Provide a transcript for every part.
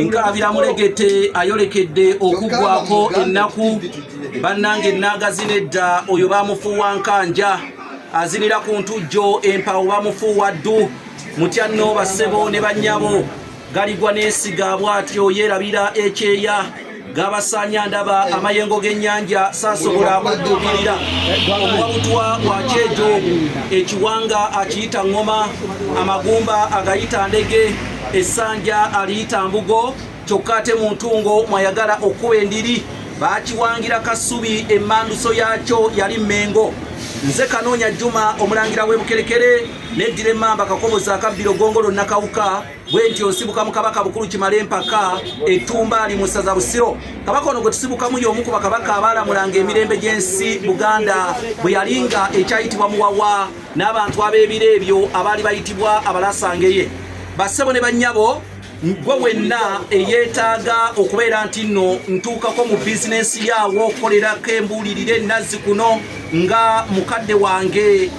nkaabira mulegete ayolekedde okuggwako ennaku bannange ennaagazi nedda oyo bamufuuwa nkanja azinira ku ntujjo empawo bamufuuwa ddu mutya nno bassebo ne bannyabo galigwa n'esiga bw'atyo yeerabira ekyeya gabasaanya ndaba amayengo g'ennyanja saasobola kudduukirira omuwabutwa wa kyejo ekiwanga akiyita ŋŋoma amagumba agayita ndege essanja aliyita mbugo kyokka ate mu ntungo mwayagala okukuba endiri baakiwangira kasubi emmanduso yaakyo yali mmengo nze kanoonya juma omulangira w'ebukerekere neddira emmamba kakoboza akabbiro gongolo nakawuka bwentyo nsibuka mu kabaka bukulu kimala empaka etumbaali mu ssaza busiro kabaka ono gwe tusibukamu y'omu ku bakabaka abaalamulanga emirembe gy'ensi buganda bwe yali nga ekyayitibwa muwawa n'abantu ab'ebiro ebyo abaali bayitibwa abalasangeye bassebo ne bannyabo gwe wenna eyeetaaga okubeera nti nno ntuukako mu bizinensi yaawo okukolerako embuulirire enazzi kuno nga mukadde wange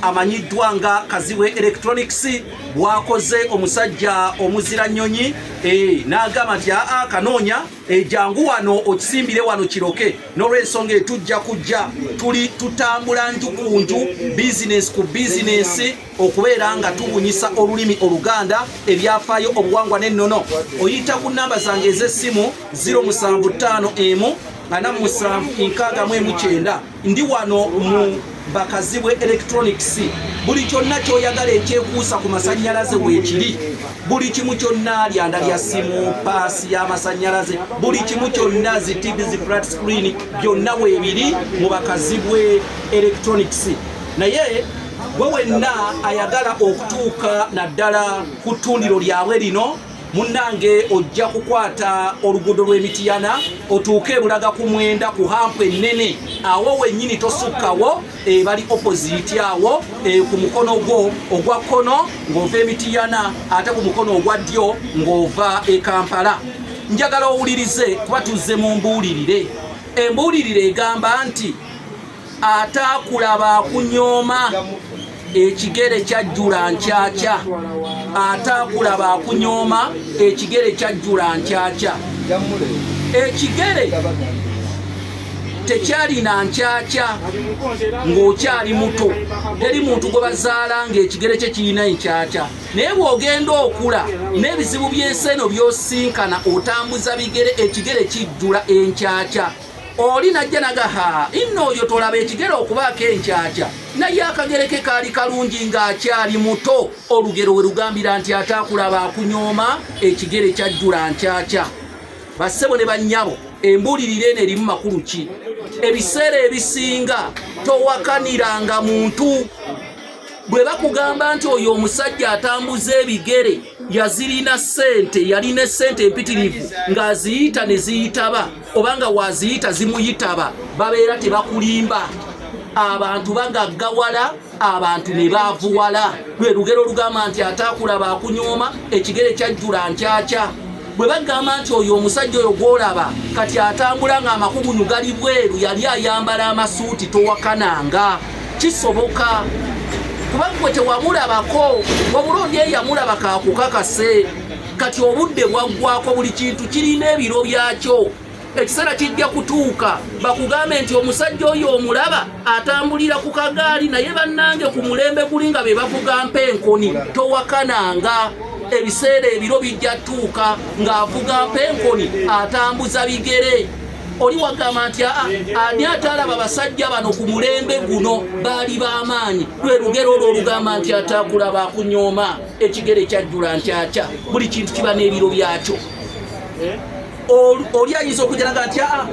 amanyiddwa nga kazibwe electronics bwakoze omusajja omuzira nnyonyi eh, n'agamba nti aa kanoonya ejangu eh, wano okisimbire wano kiroke n'olwensonga etujja kujja tuli tutambula nju ku nju bizinesi ku bizinesi okubeera nga tubunyisa olulimi oluganda ebyafaayo obuwangwa n'ennono oyita ku nnamba zange ez'essimu 075 emu ana musanvu enkaaga mu emu kyenda ndi wano mu bakazibwe electronics buli kyonna kyoyagala ekyekuusa ku masanyalaze weekiri buli kimu kyonna lyanda lya simu paasi y'amasanyalaze buli kimu kyonna zi tv zi flat screen byonna weebiri mu bakazibwe electronics naye gwe wenna ayagala okutuuka naddala ku ttundiro lyabwe lino munnange ojja kukwata oluguudo lw'emitiyana otuuke ebulaga ku mwenda ku hampu ennene awo wennyini tosukkawo ebali eh, opoziti awo eh, ku mukono gwo ogwa kkono ng'ova emitiyana ate ku mukono ogwa ddyo ng'ova e kampala njagala owulirize kuba tuzze mu mbuulirire embuulirire egamba nti ataakulaba akunyooma ekigere kyajjula nkyakya ataakulaba akunyooma ekigere kyajjula nkyakya ekigere tekyalina nkyakya ng'okyali muto teri muntu gwe bazaala ng'ekigere kye kirina enkyakya naye bw'ogenda okula n'ebizibu by'ensi eno by'osinkana otambuza bigere ekigere kijjula enkyakya oli najja nagaha inno oyo tolaba ekigere okubaako enkyakya naye akagereke kaali kalungi ng'akyali muto olugero we lugambira nti ate akulaba akunyooma ekigere kyajjula nkyakya bassebo ne bannyabo embuulirira eno erimu makulu ki ebiseera ebisinga towakaniranga muntu bwe bakugamba nti oyo omusajja atambuza ebigere yazirina ssente yalina essente empitirivu ng'aziyita ne ziyitaba obanga waziyita zimuyitaba babeera tebakulimba abantu bagaggawala abantu ne baavuwala lwe lugero olugamba nti ataakulaba akunyooma ekigere kyajjula nkyakya bwe bagamba nti oyo omusajja oyo gwolaba kati atambula ng'amakugunyu gali bweru yali ayambala amasuuti towakananga kisoboka kuba gwe tewamulabako wabula oli eyamulaba kakukakase kati obudde bwaggwako buli kintu kirina ebiro byakyo ekiseera kijja kutuuka bakugambe nti omusajja oyo omulaba atambulira ku kagaali naye bannange ku mulembe guli nga be bavugampa enkoni towakananga ebiseera ebiro bijja tuuka ng'avugampa enkoni atambuza bigere oli wagamba nti aa ani atalaba basajja bano ku mulembe guno baali b'amaanyi lwe lugero olwo olugamba nti ataakulaba akunyooma ekigere kyajjula nkyakya buli kintu kiba n'ebiro byakyo eh? oli ayinza okujalaga nti aa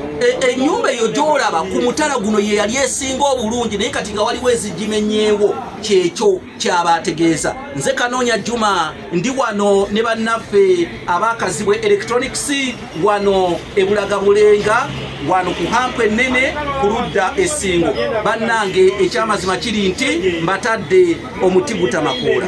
enyumba e eyo gyolaba ku mutala guno ye yali esinga obulungi naye kati nga waliwo ezigimenyeewo kyekyo kyaba ategeeza nze kanoonya juma ndi wano ne bannaffe abakazibwe electronics wano ebulaga bulenga wano ku hampu ennene ku ludda esingo bannange ekyamazima kiri nti mbatadde omuti gutamakoola